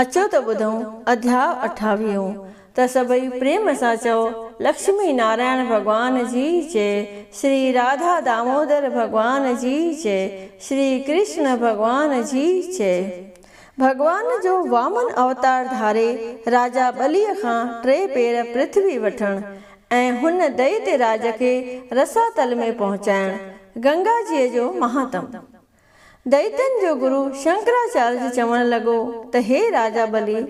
اچو ته ٻڌون اڌياء اٺاويهون ته سڀئي پريم سان چئو لڪشمي نارائڻ ڀڳوان جي جي، شري راڌا دامودر ڀڳوان جي جي، شري ڪرشڻ ڀڳوان جي جي. ڀڳوان جو وامن اوتار ڌاري راجا ٻليء کان ٽي پير پرٿوي وٺڻ ۽ هن دئيتي راج کي رساتل ۾ پهچائڻ، گنگا جيء جو مهاتم. دئيتن جو گرو شنڪراچارج چوڻ لڳو ته هي راجا بلي،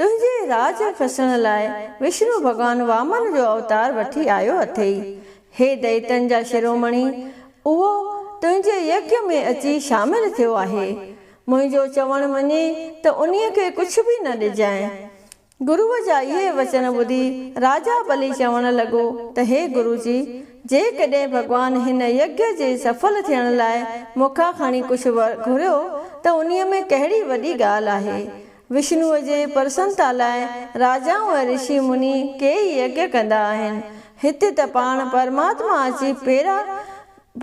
تنهنجي راڄ کسڻ لاء وشنو ڀڳوان وامن جو اوتار وٺي آيو اٿئي. هي دئيتن جا شرومڻي، اهو تنهنجي يگيا ۾ اچي شامل ٿيو آهي. منهنجو چوڻ مڃي ته انهيء کي ڪجهه به نه ڏجانء. گروء جا اهي وچن ٻڌي راجا بلي چوڻ لڳو ته هي گرو جي، جيڪڏهن ڀڳوان هن يگيّ جي سڦل ٿيڻ لاء مون کان کڻي ڪجهه ور گهريو ته انهيء ۾ ڪهڙي وڏي ڳالهه آهي. وشنوء جي پرسنتا لاء راجائون ۽ رشي مني ڪيئي يگيّ ڪندا آهن. هتي ته پاڻ پرماتما اچي پيرا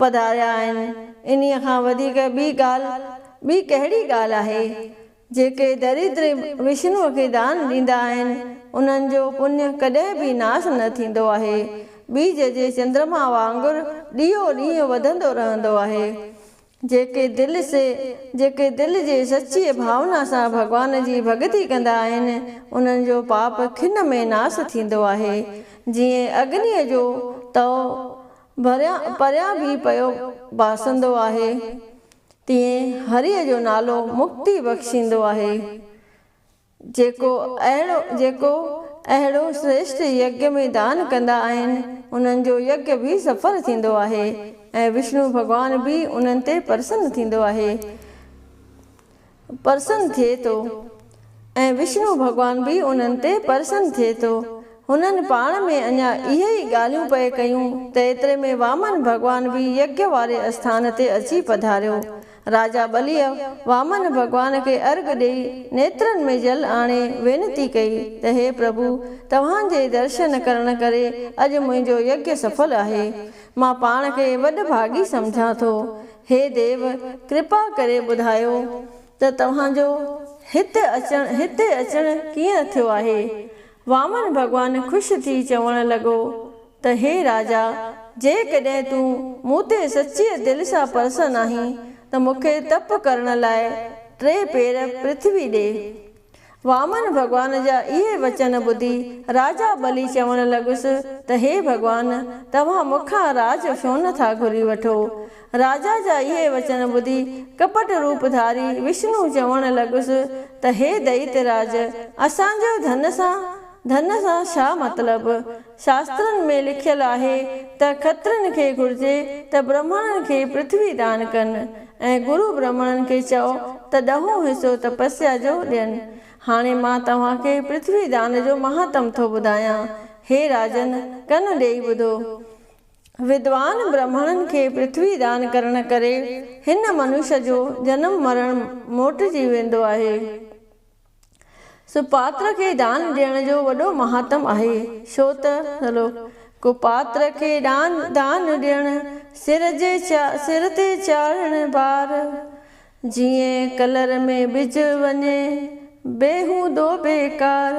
پڌاريا آهن. انهيء کان وڌيڪ ٻي ڳالهه، ٻي ڪهڙي ڳالهه آهي؟ جيڪي دريدري وشنوء کي دان ڏيندا آهن، انهن جو پڃ ڪڏهن به ناس نه ٿيندو آهي. ٻيج جي چندرما وانگر ڏينهون ڏينهن وڌندو رهندو آهي. جيڪي دل سي جيڪي دل جي سچيء ڀاونا سان ڀڳوان جي ڀڳتي ڪندا آهن، انهن جو پاپ کن ۾ ناس ٿيندو آهي. جيئن اگنيء جو تئو ڀريان پريان به پيو ٻاسندو آهي. تيئن هريء جو نالو مڪتي بخشيندو آهي، جيڪو اهڙو جيڪو اهڙو سريشٽ يگيا ۾ دان ڪندا آهن، انهن جو يگيا به سڦل ٿيندو آهي ۽ وشنو ڀڳوان به انهن تي پرسن ٿيندو آهي پرسن ٿئي ٿو. ۽ وشنو ڀڳوان به انهن تي پرسن ٿئي ٿو. هنن پاڻ ۾ اڃا اهي ئي ڳالهيون پئي ڪيون ته ايتري ۾ وامن ڀڳوان به يگيا واري اسٿان تي اچي پڌاريو. راجا ٻليء وامن ڀڳوان کي ارگهه ڏيئي نيترن ۾ جل آڻي وينتي ڪئي ته هي پرڀو توهان جي درشن ڪرڻ ڪري اڄ منهنجو يگيا سڦل آهي. مان پاڻ کي وڏ ڀاڳي سمجهان ٿو. هي ديو! ڪرپا ڪري ٻڌايو. ته توهان جو هت اچڻ هتي اچڻ ڪيئن ٿيو آهي؟ وامن ڀڳوان خوش ٿي چوڻ لڳو ته هي راجا! جيڪڏهن تون مون تي سچيء دل سان پرسن آهين ته مون کي تپ ڪرڻ لاء ٽي پير پرٿوي ڏي. وامن ڀڳوان جا اهي وچن ٻڌي راجا ٻلي چوڻ لڳس ته هي ڀڳوان! توهان مون کان راڄ ڇو نه ٿا گهري وٺو؟ راجا جا اهي وچن ٻڌي ڪپٽ روپ ڌاري وشنو چوڻ لڳس ته هي دئيت راج! اسان جو ڌن سان ڌن سان ڇا مطلب؟ شاسترن ۾ لکيل آهي ته کترين کي گهرجي ته برهمڻن کي پرٿوي دان ڪن ۽ گرو برهمڻن کي چئو ته ڏهون حصو تپسيا جو ڏين. هاڻي مان توهان کي پرٿوي دان جو مهاتم ٿو ٻڌايان. هي راجن! ڪن ڏيئي ٻڌو. ودوان برهمڻن کي پرٿوي دان ڪرڻ ڪري هن منوش جو جنم مرڻ موٽجي ويندو آهي. سو پاتر کي ڏان ڏيڻ جو وڏو مهاتم آهي، ڇو ته ٿلهو ڪو پاتر کي ڏان دان ڏيڻ، سر جي سر تي چاڙهڻ بار، جيئن ڪلر ۾ ٻج وڃي، بيهودو بيڪار،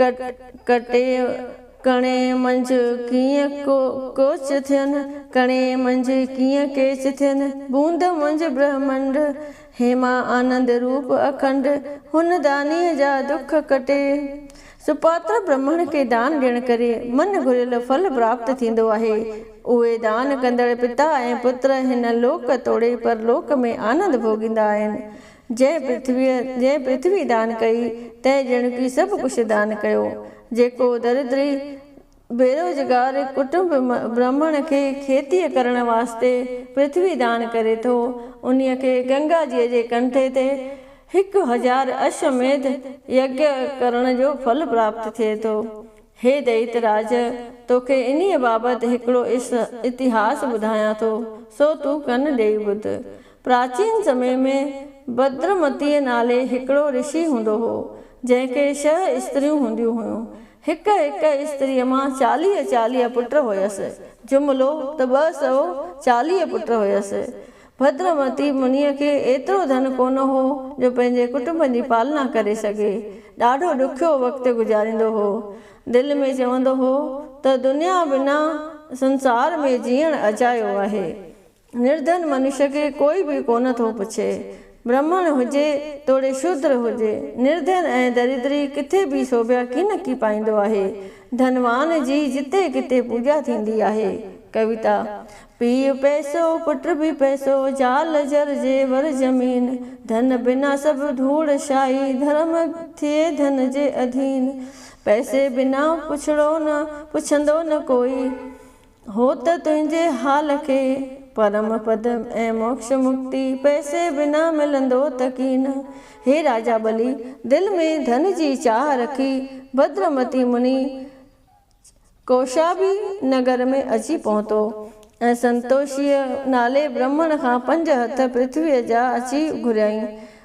ڪٽي ڪڻي منجهه ڪيئن ڪوچ ٿين، ڪڻي منجهه ڪيئن ڪيچ ٿين، بوند منجهه برهمنڊ، هيما آنند روپ اکنڊ، هن دانيء جا دک ڪٽي. سپاتر برهمڻ کي دان ڏيڻ ڪري من گهريل ڦل پراپت ٿيندو آهي. اهي دان ڪندڙ پتا ۽ پٽ هن لوڪ توڙي پرلوڪ ۾ آنند ڀوڳيندا آهن. جنهن پرٿويء جنهن پرٿوي دان ڪئي، تنهن ڄڻڪي سڀ ڪجهه دان ڪيو. جيڪو دريدري، بيروزگار، ڪٽنب برهمڻ کي کيتيء ڪرڻ واسطي پرٿوي دان ڪري ٿو، انهيء کي گنگا جيء جي ڪنڍي تي هڪ هزار اشو ميڌ يگيا ڪرڻ جو ڦل پراپت ٿئي ٿو. هي دئيت راج! توکي انهيء بابت هڪڙو اتهاس ٻڌايان ٿو، سو تون ڪن ڏيئي ٻڌ. پراچين سمي ۾ بدرمتيء نالي هڪڙو رشي هوندو هو، جنهن کي شهه استريون هونديون هيون. هڪ هڪ استريء مان چاليهه چاليهه پٽ هيس. جملو ته ٻه سؤ چاليهه پٽ هيس. بدرمتي منيء کي ايترو ڌن ڪونه هو جو پنهنجي ڪٽنب جي پالنا ڪري سگهي. ڏاڍو ڏکيو وقت گذاريندو هو. دل ۾ چوندو هو ته دنيا بنا سنسار ۾ جيئڻ اجايو آهي. نردن منش کي ڪوئي به ڪونه ٿو پڇي. برهمڻ هجي توڙي شودر هجي، نردن ۽ دريدري ڪٿي به سوڀيا ڪين ڪي پائيندو آهي. ڌنوان جي جتي ڪٿي پوڄا ٿيندي آهي. ڪويتا، پيء پئسو، پٽ به پئسو، زال زر زيور زمين، ڌن بنا سڀ ڌوڙ شاهي، ڌرم ٿئي ڌن جي اڌين، پئسي بنا پڇڙو نه، پڇندو نه ڪوئي. هو ته تنهنجي حال کي پرم پد ۽ موڪش مڪتي پئسي بنا ملندو ته ڪين. هي راجا ٻلي، دل ۾ ڌن جي چاهه رکي ڀدر متي مني ڪوشابي نگر ۾ اچي پهتو ۽ سنتوشيء نالي برهمڻ کان پنج هٿ پرٿويء جا اچي گهريائين.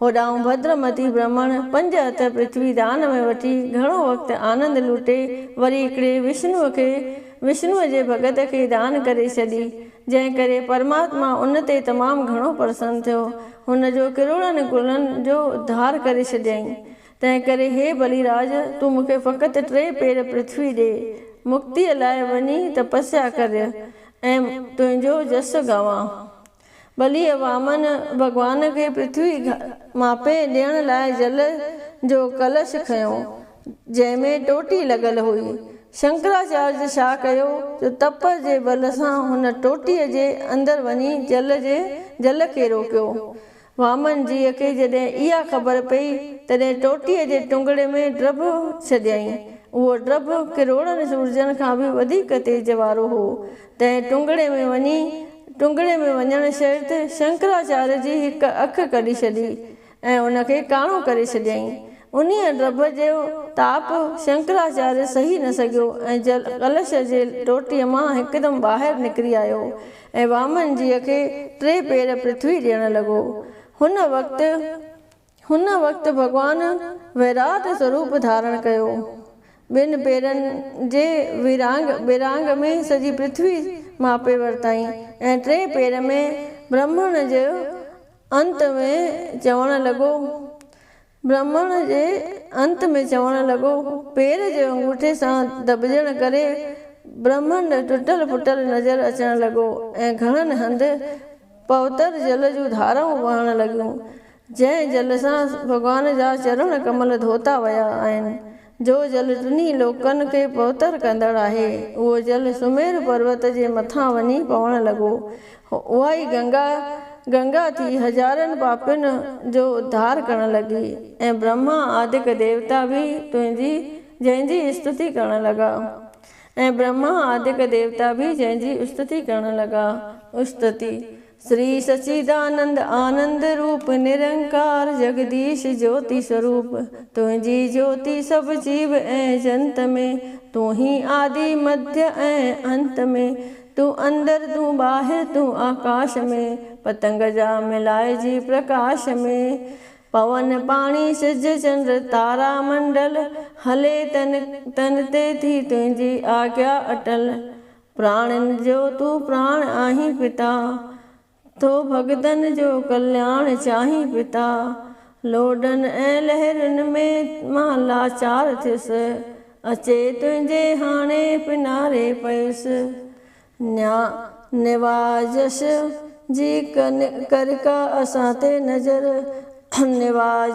هوڏانهن ڀدر متي برهمڻ پنج هٿ پرٿوي دان ۾ وٺي گهڻو وقت آنند لوٽي وري هڪڙي وشنوء کي وشنوء جي ڀڳت کي دان ڪري ڇڏي، جنهن ڪري پرماتما ان تي تمام گهڻو پرسن ٿيو. هن جو ڪروڙن ڪلن جو اڌار ڪري ڇڏيائين. تنهن ڪري هي بلي راج تون مون کي فقط ٽي پير پرٿوي ڏي، مڪتيء لاء وڃي تپسيا ڪريء ۽ تنهنجو جس گاوان. ٻلي وامن ڀڳوان کي پرٿوي ماپي ڏيڻ لاء جل جو ڪلش کنيو، جنهن ۾ ٽوٽي لڳل هئي. شنڪراچاريه ڇا ڪيو جو تپ جي بل سان هن ٽوٽيء جي اندر وڃي جل جي جل کي روڪيو. وامن جيء کي جڏهن اها خبر پئي، تڏهن ٽوٽيء جي ٽنگڙي ۾ ڊڀ ڇڏيائين. اهو ڊڀ ڪروڙن سورجن کان به وڌيڪ تيج وارو هو. تنهن ٽنگڙي ۾ وڃي ٽنگڙي ۾ وڃڻ شرط شنڪراچاريه جي هڪ اک ڪڍي ڇڏي ۽ ان کي ڪاڻو ڪري ڇڏيائين. انهيء ڊڀ جو تاپ شنڪراچاريه سهي نه سگهيو ۽ جل ڪلش جي ٽوٽي مان هڪدم ٻاهر نڪري آيو ۽ وامن جيء کي ٽي پير پرٿوي ڏيڻ لڳو. هن وقت. هن وقت ڀڳوان ويراٽ سوروپ ڌارڻ ڪيو. ٻن پيرن جي ورانگ ٻرانگ ۾ سڄي پرٿوي ماپي ورتائين ۽ ٽئين پير ۾ برهمڻ جي انت ۾ چوڻ لڳو برهمڻ جي انت ۾ چوڻ لڳو پير جي انگوٺي سان دٻجڻ ڪري برهمنڊ ٽٽل ڦٽل نظر اچڻ لڳو ۽ گهڻن هنڌ پوتر جل جون ڌارائون وهڻ لڳيون. جنهن جل سان ڀڳوان جا چرڻ ڪمل ڌوتا ويا آهن، جو جل ٽنهي لوڪن کي پوتر ڪندڙ آهي، اهو جل سمير پروت جي مٿان وڃي پوڻ لڳو. اهائي گنگا، گنگا ٿي هزارن پاپين جو اڌار ڪرڻ لڳي ۽ برهما آدڪ ديوتا به تنهنجي، جنهن جي استتي ڪرڻ لڳا. ۽ برهما آدڪ ديوتا به جنهن جي استتي ڪرڻ لڳا. استتي، سري سچيدانند آنند روپ نرنڪار جگديش جوتي سوروپ تنهنجي جوتي سڀ جيو ۽ جنت ۾ تون هين آدي مڌ ۽ انت ۾ تون اندر تون ٻاهر تون آڪاش ۾ پتنگ جا ملائجي پرڪاش ۾ پون پاڻي سج چنڊ تارا منڊل هلي تن تن تي ٿي تنهنجي آگيا اٽل پراڻن جو تون پراڻ آهين پتا، ٿو ڀڳتن جو ڪلياڻ چاهين پتا، لوڏن ۽ لهرن ۾ مان لاچار ٿيس، اچي تنهنجي هاڻي پناري پيس، نيا نوازش جي ڪري ڪا اسان تي نظر، نواز.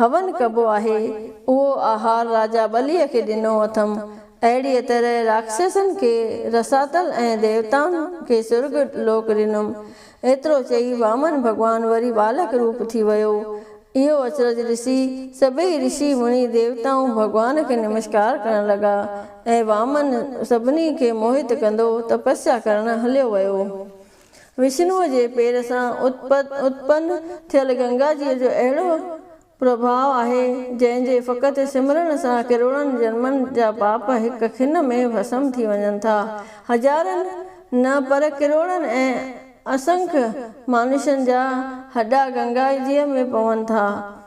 هون ڪبو آهي، اهو آهار راجا ٻليء کي ڏنو اٿم. اهڙيء طرح راڪشسن کي رساتل ۽ ديوتائن کي سرڳ لوڪ ڏنم. ايترو چئي وامن ڀڳوان وري ٻالڪ روپ ٿي ويو. اهو اچرج ڏسي سڀيئي رشي مڻي ديوتائون ڀڳوان کي نمشڪار ڪرڻ لڳا ۽ وامن سڀني کي موهت ڪندو تپسيا ڪرڻ هليو ويو. وشنوء جي پير سان اتپن ٿيل گنگا جيء جو اهڙو پرڀاء آهي، جنهن جي فقط سمرڻ سان ڪروڙن جنمن جا پاپ هڪ کن ۾ ڀسم ٿي وڃن ٿا. هزارن نه پر ڪروڙن ۽ اسنک مانوشن جا هڏا گنگا جيء ۾ پون ٿا.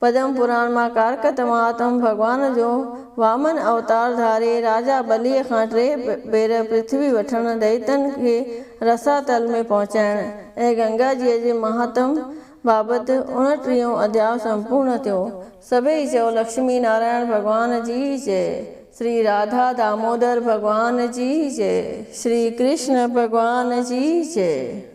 پدم پراڻ مان ڪارڪٽ مهاتم ڀڳوان جو وامن اوتار ڌاري راجا ٻليء کان ٽي ڀير پرٿوي وٺڻ، دئيتن کي رسا تل ۾ پهچائڻ ۽ گنگا جيء جي مهاتم بابت اڻٽيهون اڌياء سمپورڻ ٿيو. سڀيئي چئو لڪشمي نارائڻ ڀڳوان جي جئه، شري راڌا دامودر ڀڳوان جي جئه، شري ڪرشن ڀڳوان جي جئه.